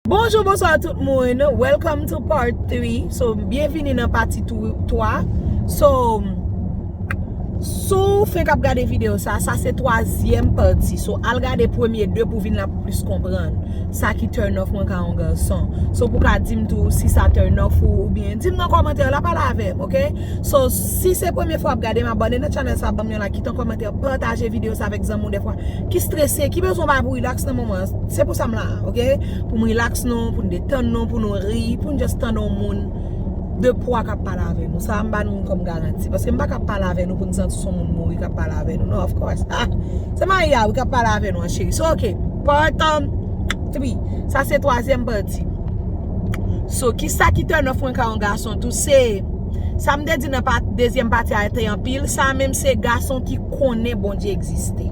Bonjou bonswa tout moun Welcome to part 3 So byenvini nan pati 3 So Si w fenk ap gade videyo sa Sa se twazyèm pati So al gade premye 2 pou w vin la pou w plis konprann Sa ki turn off mwen ka yon gason So pou w ka di m tou Si sa turn off ou oubyen Di m nan kòmantè yo la pale avè m ok So si se premye fwa w ap gade m abòne nan channel sa Ban m yon like Kite yon kòmantè Pataje videyo sa avèk zanmi w dèfwa Ki strese Ki bezwen w bay pou w relax nan moman an. Se pou sa m la a ok Pou m relax nou Pou n detann nou Pou nou ri Pou n just tande yon moun De pwa k ap pale avè nou Sa a m ba nou kòm garanti Paske m pa ka pale avè nou Pou n santi se yon moun mouri k ap pale avè nou non Of course ah Se Maya wi k ap pale avè nou an cheri So ok Part 3 Sa se twazyèm pati So kisa ki turn off mwen ka yon gason tou Se Sa m te di nan dezyèm pati a te anpil Sa a menm se gason ki konnen Bondye egziste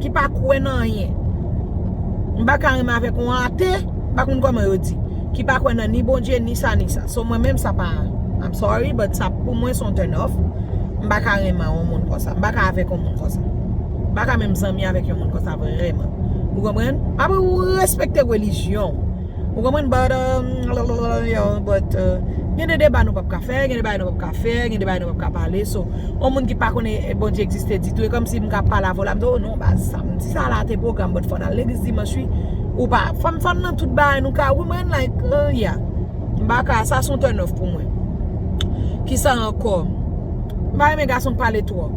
Ki pa kwè nan anyen. M pa ka renmen avèk yon ate, m pa konn kòman yo di. Ki pa kwè nan ni Bondye, ni sa, ni sa. So mwen menm sa pa, I'm sorry, but sa pou mwen son turn off. M pa ka renmen yon moun konsa. M pa ka avèk yon moun konsa. M pa ka menm zanmi avèk yon moun konsa vreman. Ou konprann? Apre ou respekte relijyon ou. Ou konprann but uh but uh gen de deba nou pap ka fè, gen de bagay nou pap ka fè, gen de bagay nou pap ka pale so yon moun ki pa konnen Bondye egziste ditou e kòmsi m ka pale avè w la m di w oh non baz sa m di sa la te pwogram but fò n al legliz dimanch wi ou pa fò m fò n nan tout bagay nou ka ou konprann like uh yeah m pa ka sa s on turn off pou mwen kisa ankò m pa renmen gason k pale twòp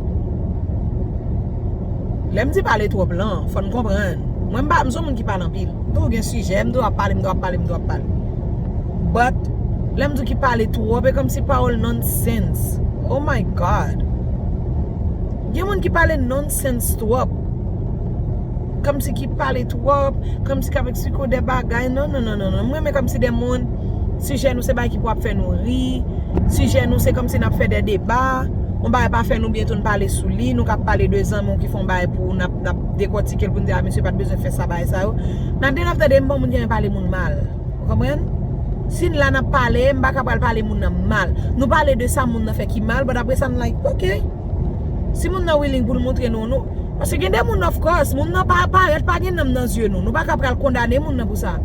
lè m di pale twòp lan fò n konprann mwen m pa m s on moun ki pale anpil. M toujou gen sijè, m toujou ap pale, m toujou ap pale, m toujou ap pale. But, lè m di w ki pale twòp, e kòmsi pawòl nonsense. Oh my God! Gen moun ki pale nonsense twòp. Kòmsi ki pale twòp, kòmsi k'ap eksplike w de bagay. Non, non, non, non. M renmen kòmsi de moun, sijè nou se bagay ki pou ap fè nou ri, sijè nou se kòmsi n'ap fè de deba, yon bagay pa fè nou byen tou n'pale sou li, nou k'ap pale de zanmi w ki fè yon bagay pou ou, n'ap. nap dekòtikel poun di a misye pat bezwen fè sa bagay sa yo nap gen ap tande bon moun gen pale moun mal ou konprann sin la nap pale m paka pral pale moun nan mal nou pale de sa moun nan fè ki mal but aprè sa nou like ok si moun nan willing poul moutre nou nou paske gen de moun of course moun nan pa parèt pa gen nanm nan zye nou nou paka pral kondane moun nan pou sa.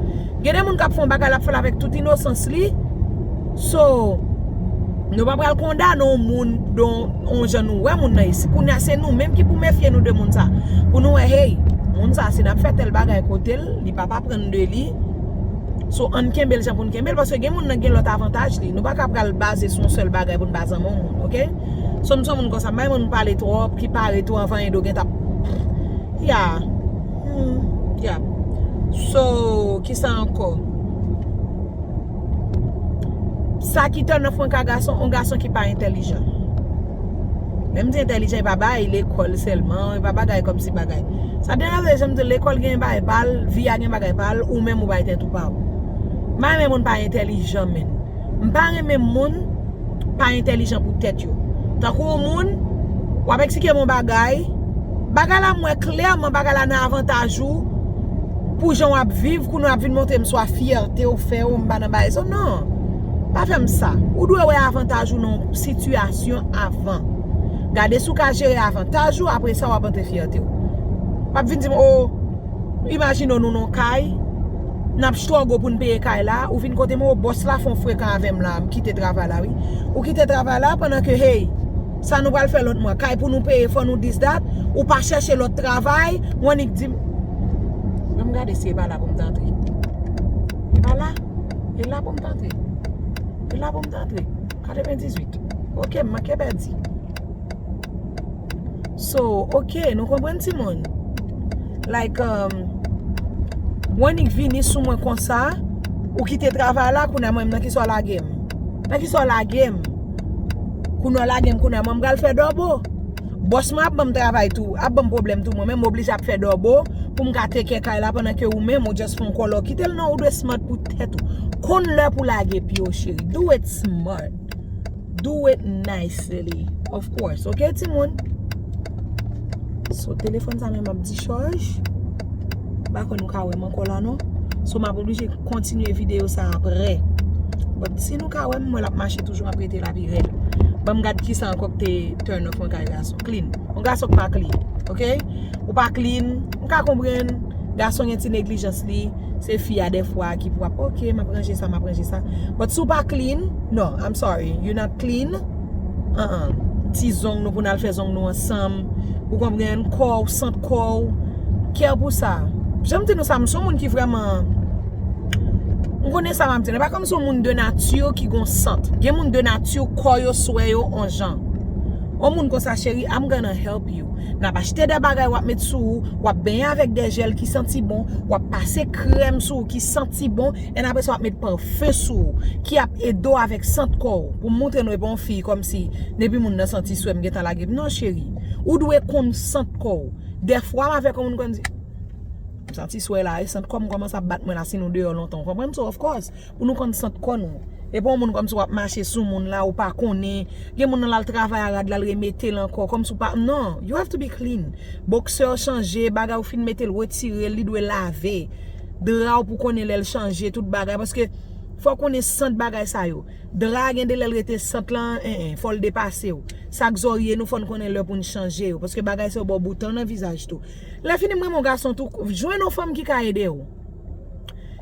Gen de moun kap fè yon bagay lap fèl avèk tout inosans li So Nou pa pral kondane yon moun don yon jan nou wè moun nan ye si kounya se nou menm ki pou mefye nou de moun sa Pou nou wè hey moun sa si nap fè tèl bagay kotel li pap aprann de li So ann kenbel jan poun kenbel paske gen moun nan gen lòt avantaj li nou pa ka pral baze sou yon sèl bagay poun pa zanmi yon moun ok So m son moun konsa m pa renmen moun pale tròp ki pare tou anvan Indo gentap Ya. Humm yap So kisa ankò Sa ki turn off mwen ka gason on gason ki pa entèlijan Lèm di entèlijan e pa bay lekòl sèlman e pa bagay kòm si bagay Sa te deranj lèm di lekòl gen bagay pal vi a gen bagay pal ou menm ou bay tèt ou pa ou Mwen pa renmen moun pa entèlijan menn. m pa renmen moun pa entèlijan pou tèt yo tankou yon moun w ap eksplike m yon bagay bagay la m wè klèman bagay la nan avantaj ou pou jan w ap viv kounye w ap vin montre m swa fyète w fè w m pa nan bagay sa w nan pa fè m sa ou dwe wè avantaj ou nan yon sitiyasyon avan gade si w ka jere avantaj ou apre sa w ap montre fyète w pa vin di m o imajine w nou nan yon kay Nap struggle poun peye kay la, ou vin kotem oh boss la fon frekan avem la, mkite travay la wi. Ou kite travay la pandan ke hey, sa nou pral fè lòt mwa, kay pou nou peye fò nou this that, ou pa chèche lòt travay, ou annik dim, banm gade si e pa la poum t antre. E pa la? E la poum t antre? E la poum t antre? 98. Ok, m manke pèdi. So ok nou konprann ti moun Like um ou annik vini sou mwen konsa Ou kite travay la kounye a mwen menm nan kisa w lage m Nan kisa w lage m Kounye a w lage m kounye a mwen m pral fè dòbo Bòs mwen ap ban m travay tou ap ban m pwoblèm tou mwen menm m oblije ap fè dòbo pou m ka tekè kay la pandan ke ou menm ou just fè yon kòlò Kite l non ou dwe smart pou tèt ou Konn lè pou w lage pye w cheri Do it smart Do it nicely Of course Ok timoun So telefòn sa menm ap dichaj M pa kwè nou ka wè m ankò la non So m ap oblije kontinye videyo sa aprè But si nou ka wè m m wè l ap mache toujou m ap rete la pi rèd Ban m gad ki sa ankò ki te turn off yon kay gason Clean Yon gason ki pa clean Ok Ou pa clean M ka konprann Gason gen ti neglijans li Se fi a dèfwa ki pou ap ok map ranje sa map ranje sa But si w pa clean No I'm sorry You not clean Ti zong nou pou nal fè zong nou ansanm Ou konprann Kò w sant kò w Kè w pou sa Janm di nou sa m son moun ki vrèman M konnen sa map di la E pa kòm si w moun de nati ki gon sant Gen moun de nati kò yo swè yo on jan On moun konsa cheri I'm gonna help piu. Nap achte de bagay wap met sou ou, wap benyen avèk de jèl ki santi bon, wap pase krèm sou ou ki santi bon, en apre sa wap met pafen sou ou, ki ap ede w avèk sant kò ou. Pou m montre nou e pa yon fi kòmsi depi moun nan santi swe m gentan lage l. Non cheri, ou dwe konn sant kò ou. Dèfwa m avèk yon moun konn di, m santi swe la e, sant kò m kòmanse ap bat mwen la si nou deyò lontan ou konprann? So of course. Pou nou konn sant kò nou. E pa yon moun kòmsi wap mache sou moun la ou pa konnen. Gen moun nan lal travay a rad lal remetel ankò kòmsi ou pa non you have to be clean. Boxer ou chanje bagay ou fin metel retirel li dwe lave. Dra ou pou konnen lèl chanje tout bagay paske fò ou konnen sant bagay sa yo. Dra gen de lèl rete sant lan en en fòl depasew. Sak zòrye nou fòn konnen lè poun chanje yo paske bagay sa yo baw bouton nan vizaj tou. Lè fini m renmen yon gason tou jwenn yon fanm ki ka edew.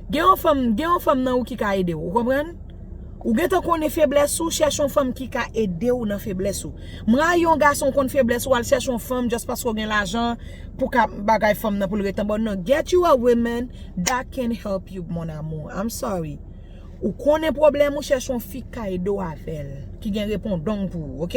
Gen yon fanm, gen yon fanm nan ou ki ka ede w. Ou konprann? Ou gentan konnen feblès ou, chèche yon fanm ki ka ede w nan feblès ou. M rayi yon gason ou konn feblès ou al chèche yon fanm just paske ou gen lajan pou ka bagay fanm nan pou l ret anba w. Non, get you a woman that can help you mon amour. I'm sorry. Ou konnen pwoblèm ou chèch yon fi kay do avèl ki gen repondong pou ou ok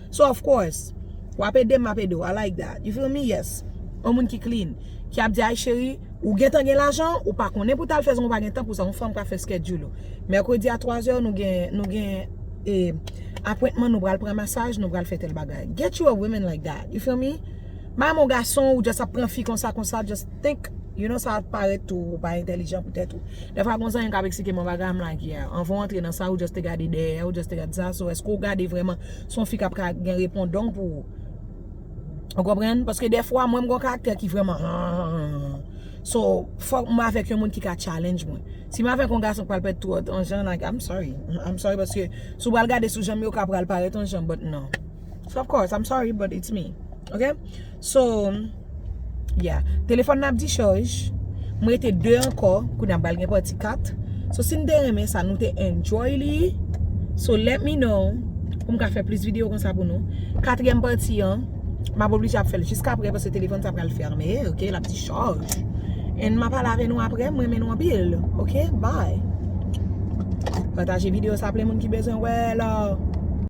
so of course wap edem map edew I like that you feel me yes yon moun ki clean ki ap di ay cheri ou gentan gen lajan ou pa konnen pou tal fè zan ou pa gen tan pou sa yon fanm ka fè schedule ou mèkredi a 3 zè nou gen nou gen e apwentman nou pral pran masaj nou pral fè tel bagay get you a woman like that you feel me bay m yon gason ou just ap pran fi konsa konsa just. Think, you know sa parèt tou ou pa entèlijan pou tèt ou. Dèfwa gon zanmi kap eksplike mwen bagay am like yeah. Anvan ou antre nan sa ou just te gade dèyè, ou just te gade sa, so èske ou gade vrèman se yon fi kap ka gen repondong pou ou. Ou konprann? Paske dèfwa mwen m gon karaktè ki vrèman hahahahahahahah. So fòk m avèk yon moun ki ka challenge mwen. Si m avèk yon gason k pral parèt twòt yon jan like I'm sorry, I'm sorry paske si w pral gade sou jan m ye ou ka pral parèt yon jan but non. Of course I'm sorry but it's me. Ok? So Yeah Telefòn nan ap dichaj M rete 2 ankò Kounye a m pral gen pati 4 So si n te renmen sa nou te enjoy li So let me know Pou m ka fè plis videyo konsa pou nou Katriyèm pati an M ap oblije ap fè l jiska aprè Paske telefòn sa pral fèmen Ok l ap dichaj And m ap pale avè nou aprè M renmen nou anpil Ok bye Pataje videyo sa plen moun ki bezwen wè l.